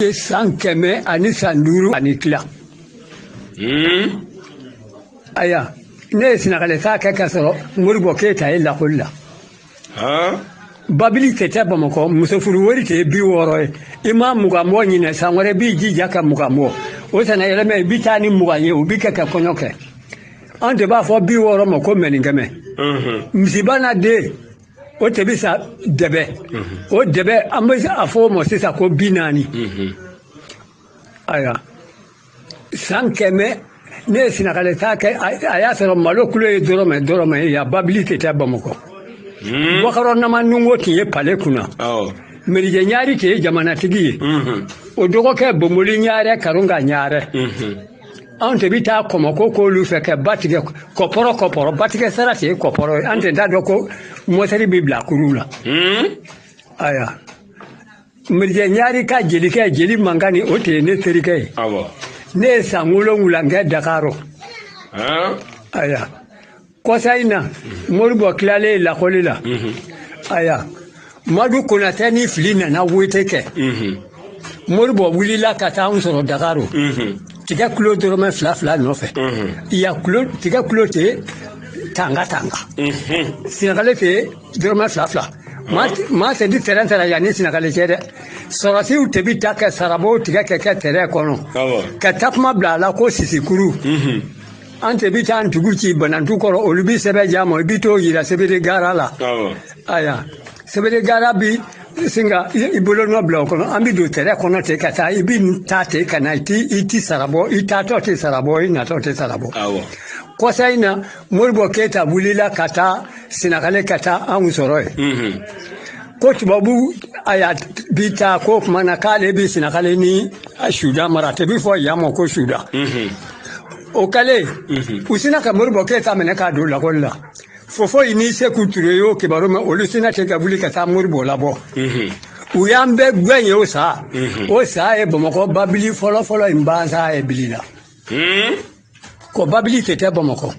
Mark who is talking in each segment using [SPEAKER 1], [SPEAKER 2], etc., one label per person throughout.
[SPEAKER 1] ye san kɛmɛ ani san duuru ani tila hmm? aya ne ye sinakale taa kɛ k'a sɔrɔ moribɔ keyita ye lakoli la babili tun tɛ bamakɔ musofuru wari tun ye bi wɔɔrɔ ye i ma mugan bɔ ɲinɛ san wɛrɛ b'i jija ka mugan bɔ o san na yɛlɛmɛ i bi taa ni mugan ye o bi kɛ ka kɔɲɔ kɛ an tun b'a fɔ bi wɔɔrɔ ma ko mɛninkɛmɛ misiba n'a den o tun bɛ san dɛbɛ o dɛbɛ an bɛ a fɔ o ma sisan ko bi naani ayiwa san kɛmɛ ne ye sinakale taa kɛ a y'a sɔrɔ malo kulo ye dɔrɔmɛ dɔrɔmɛ ye yan babili tun tɛ bamakɔ wakɔrɔ nama nungo tun ye pale kunna merijɛ ɲaari tun ye jamanatigi ye o dɔgɔkɛ bomoli ɲaarɛ karunga ɲaarɛ anw tun bɛ taa kɔmɔko k'olu fɛ ka ba tigɛ kɔpɔrɔ kɔpɔrɔ ba tigɛ sara tun ye kɔpɔrɔ ye an tun t'a dɔn ko mɔtɛri bɛ bila kurun la ayiwa merijɛ ɲaari ka jelikɛ jeli mankani o tun ye ne terikɛ ye ne ye san wolonwula kɛ dakaro ayiwa kɔsa in na moribɔ tilalen lakɔli la aya madu konatɛ ni fili nana wote kɛ moribɔ wulila ka taa anw sɔrɔ dakaro tigɛ kulo dɔrɔmɛ fila fila nɔfɛ yan tigɛ kulo te tanga tanga sinakale te dɔrɔmɛ fila fila maa tun ti tɛrɛn sara yan ni sinakale cɛ dɛ sɔrɔsiw tun bi taa ka sarabon tigɛ k'a kɛ tɛrɛn kɔnɔ ka takuma bila a la ko sisikurun an tun bɛ taa an tɔgɔ ci banantu kɔrɔ olu bɛ sɛbɛn d'an ma i bɛ t'o yira sebere gara la aya sebere gara bi sin ka i bolo nɔ bila o kɔnɔ an bɛ don tɛrɛn kɔnɔ ten ka taa i bɛ taa ten ka na i ti i ti sara bɔ i taatɔ tɛ sara bɔ i natɔ tɛ sara bɔ kɔsa in na moribɔ keyita wulila ka taa sinakale ka taa anw sɔrɔ yen mhm. ko tubabu a y'a bi taa ko tuma na k'ale bɛ sinakale ni sudan mara a tun bi fɔ yan ma ko sudan mhm. o kɛlen u sinna ka moribɔ keyita minɛ k'a don lakɔli la fofoyi ni seku ture y'o kibaru mɛn olu sinna ten ka wuli ka taa moribɔ labɔ u y'an bɛɛ gɛn yen o san o san ye bamakɔ babili fɔlɔfɔlɔ in ban san ye bili la ko babili tun tɛ bamakɔ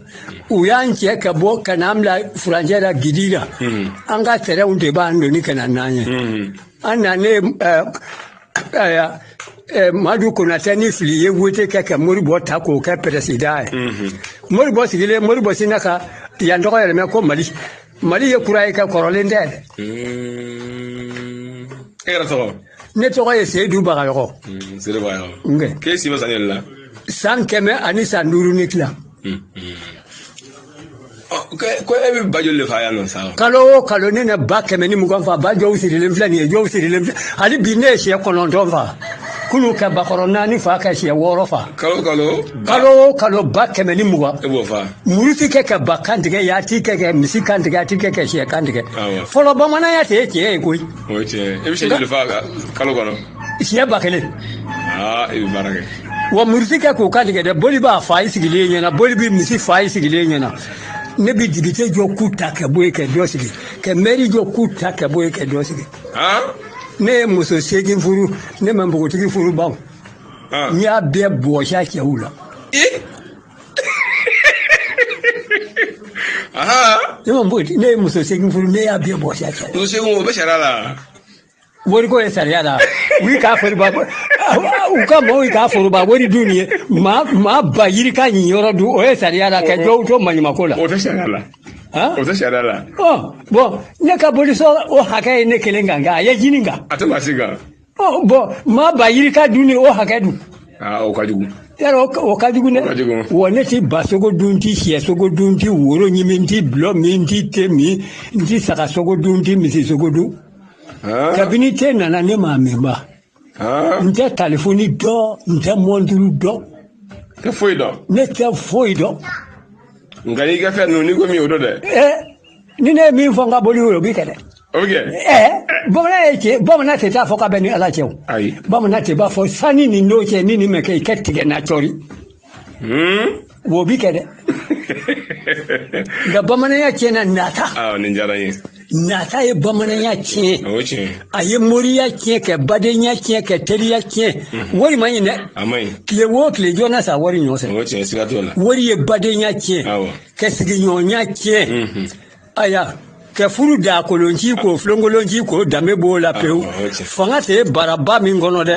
[SPEAKER 1] u y'an cɛ ka bɔ ka n'an bila furancɛ la kidira an ka tɛrɛnw de b'an doni ka na n'an ye an nanen Ayiwa eh, Madu Konatɛ ni Fili ye wote kɛ ka Moribɔ ta k'o kɛ pɛrɛsida ye mhm. Moribɔ sigilen Moribɔ sinna ka yan tɔgɔ yɛlɛmɛ ko Mali Mali ye kura ye kɛ kɔrɔlen tɛ
[SPEAKER 2] mhm. e yɛrɛ tɔgɔ ne tɔgɔ ye
[SPEAKER 1] Seyidu Bagayɔgɔ mhm, Seyidu
[SPEAKER 2] Bagayɔgɔ k'e si bɛ san joli la san kɛmɛ
[SPEAKER 1] ani san duuru ni tila
[SPEAKER 2] ko e bɛ ba joli de fa yan nɔ sa kalo o kalo ne
[SPEAKER 1] na ba kɛmɛ ni mugan fa ba jɔw sirilen filɛ nin ye jɔw sirilen filɛ hali bi ne ye sɛ kɔnɔntɔn fa kunun ka bakɔrɔ naani fa ka sɛ wɔɔrɔ fa kalo kalo kalo o kalo ba kɛmɛ ni mugan e b'o fa
[SPEAKER 2] muru ti kɛ ka
[SPEAKER 1] ba kan tigɛ ya ti kɛ ka misi kan tigɛ a ti kɛ ka sɛ kan tigɛ fɔlɔ bamananya tɛ ye tiɲɛ ye koyi o ye tiɲɛ ye e bɛ
[SPEAKER 2] sɛ joli fa kalo kɔnɔ sɛ ba kelen wa muru ti
[SPEAKER 1] kɛ k'o kan tigɛ dɛ boli b'a fa i sigilen ɲɛna boli bɛ misi fa i sigilen ɲɛna ne bɛ depite jɔ k'u ta ka bɔ yen ka dɔ sigi ka mɛri jɔ k'u ta ka bɔ yen ka dɔ sigi ne ye muso seegin furu ne ma npogotigi furu ba n y'a bɛɛ bɔsi a cɛw la ne ma npogotigi ne ye muso seegin furu ne y'a bɛɛ bɔsi a cɛw la o bɛ sariya la
[SPEAKER 2] wari ko
[SPEAKER 1] ye sariya la u y'i ka foroba u ka maaw y'i ka foroba wari dun nin ye maa maa ba yirika niyɔrɔ dun o ye sariya la ka jɔw to maɲumako la o tɛ sariya la
[SPEAKER 2] han o tɛ sariya la ɔ bɔn
[SPEAKER 1] ne ka bolisɔn o hakɛ ye ne kelen kan nka a ye jini kan a tɛ maa si
[SPEAKER 2] kan ɔ bɔn
[SPEAKER 1] maa ba yirika dunni o hakɛ dun aa o ka
[SPEAKER 2] jugu yɛrɛ o ka- o ka
[SPEAKER 1] jugu dɛ ka jugu. wa ne ti ba sogo dun n ti sɛ sogo dun n ti woro ɲimi n ti bulɔ min n ti te min n ti saga sogo dun n ti misi sogo dun kabini te nana ne m'a mɛn ba n tɛ telefoni dɔn n tɛ mɔnturu dɔn n tɛ foyi
[SPEAKER 2] dɔn ne tɛ foyi dɔn
[SPEAKER 1] nka
[SPEAKER 2] n ka fɛn ninnu n'i ko min o don dɛ ni
[SPEAKER 1] ne ye min fɔ n ka boli o bɛ kɛ
[SPEAKER 2] dɛ bamanan
[SPEAKER 1] ye cɛ bamanan tɛ t'a fɔ k'a bɛ n ni ala cɛ o bamanan tɛ b'a
[SPEAKER 2] fɔ
[SPEAKER 1] sanni nin don cɛ ni nin mɛ kɛ i ka tigɛ n na cɔri wo bi kɛ dɛ nka bamananya tiɲɛna nata aa nin diyara n
[SPEAKER 2] ye nata ye
[SPEAKER 1] bamananya tiɲɛ o ye tiɲɛ ye a ye
[SPEAKER 2] moriya
[SPEAKER 1] tiɲɛ kɛ badenya tiɲɛ kɛ teriya tiɲɛ wari man ɲi dɛ a man ɲi tile
[SPEAKER 2] wo tile jɔ
[SPEAKER 1] na sa wari nɔ fɛ o ye tiɲɛ siga t'o la
[SPEAKER 2] wari ye
[SPEAKER 1] badenya tiɲɛ awɔ kɛ sigiɲɔgɔnya tiɲɛ Mhm. aya kɛ furu da kolonci k'o filonkolonci k'o danbe b'o la pewu Awɔ, o ye tiɲɛ. fanga tɛ baraba min kɔnɔ dɛ